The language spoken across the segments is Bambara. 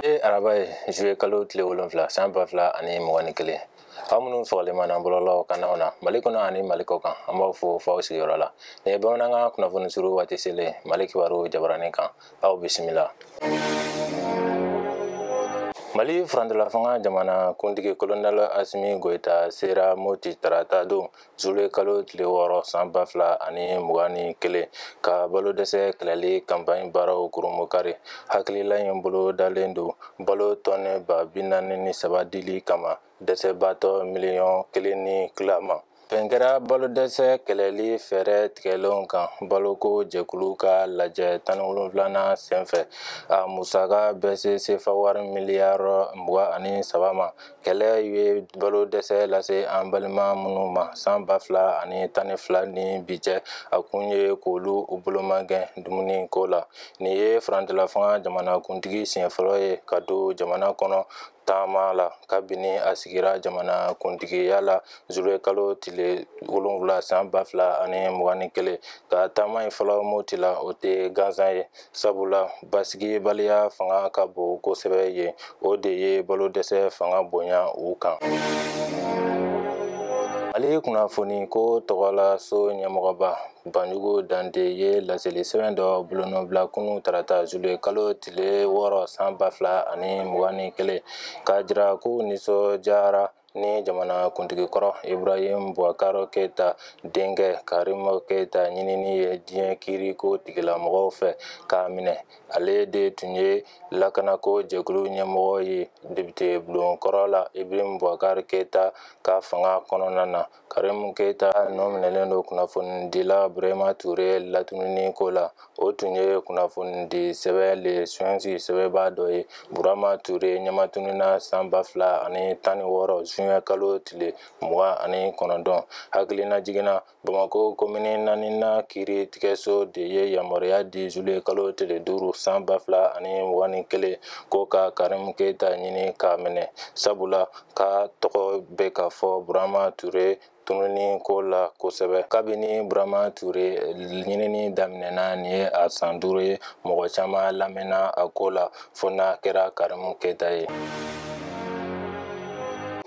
ye araba ye zuluye kalo tile wolonfila san ba fila ani mugan ni kelen aw minnu sɔgɔlen b'an na bɔlɔlɔ kannaw na mali kɔnɔ ani mali kɔ kan an b'aw fo fo aw sigiyɔrɔ la nin ye bamanankan kunnafoni surun waati selen mali kibaru jabaranin kan aw bisimila mali furancɛlafanga jamana kuntigi kolonɛl asimi goyita sera moti tarata don zuluye kalo tile wɔɔrɔ san ba fila ani mugan ni kelen ka balo dɛsɛ kɛlɛli kanpaɲi baaraw kurumukari hakilila in bolodalen don balo tɔnɛ ba bi naani ni saba dili kama dɛsɛbaatɔ miliyɔn kelen ni tila ma bɛn kɛra balo dɛsɛ kɛlɛli fɛɛrɛ tigɛlenw kan baloko jɛkulu ka lajɛ tan ni wolonwulanan senfɛ a musaka bɛ se sefa wari miliyari mugan ani saba ma kɛlɛ ye balo dɛsɛ lase an balima minnu ma san ba fila ani tan ni fila ni bi cɛ a kun ye k'olu bolomagɛn dumuni ko la nin ye furancɛlafanga jamanakuntigi siɲɛ fɔlɔ ye ka don jamana kɔnɔ taama la kabini a sigira jamana kuntigiya la zuluye kalo tile wolonwula san ba fila ani mugan ni kelen ka taama in fɔlɔ moti la o tɛ gansan ye sabula basigibaliya fanga ka bon kosɛbɛ yen o de ye balo dɛsɛ fanga bonya u kan mali kunnafoni ko tɔgɔla so ɲɛmɔgɔba banjugu dante ye laseli sɛbɛn dɔ bolonɔbila kunu tarata zuluye kalo tile wɔɔrɔ san ba fila ani mugan ni kelen k'a jira k'u nisɔndiyara ni jamana kuntigi kɔrɔ ibrahim buwakar keyita denkɛ karimu keyita ɲinini ye diɲɛ kiiriko tigilamɔgɔw fɛ k'a minɛ ale de tun ye lakanako jɛkulu ɲɛmɔgɔ ye depite bulon kɔrɔ la ibrahim buwakar keyita ka fanga kɔnɔna na Karimu Keyita nɔ minɛlen don kunnafonidila Burama Ture latununi ko la, o tun ye kunnafonidi sɛbɛn Le Sphinx sɛbɛnbaa dɔ ye. Burama Ture ɲɛmatununna san 2016 zuwɛn kalo tile 29. Hakilina jigin na Bamakɔ komini naaninan kiiri tigɛso de ye yamaruya di zuluye kalo tile duuru san 2021 ko ka Karimu Keyita ɲini k'a minɛ, sabula k'a tɔgɔ bɛ ka fɔ burama ture tununi ko la kosɛbɛ kabini burama ture ɲinini daminɛna nin ye a san duuru ye mɔgɔ caman lamɛnna a ko la fo n'a kɛra karimu keyita ye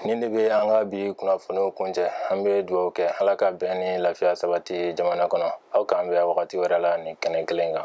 nin de bɛ an ka bi kunnafoniw kuncɛ an bɛ dugawu kɛ ala ka bɛn ni lafiya sabati jamana kɔnɔ aw k'an bɛn wagati wɛrɛ la nin kɛnɛ kelen kan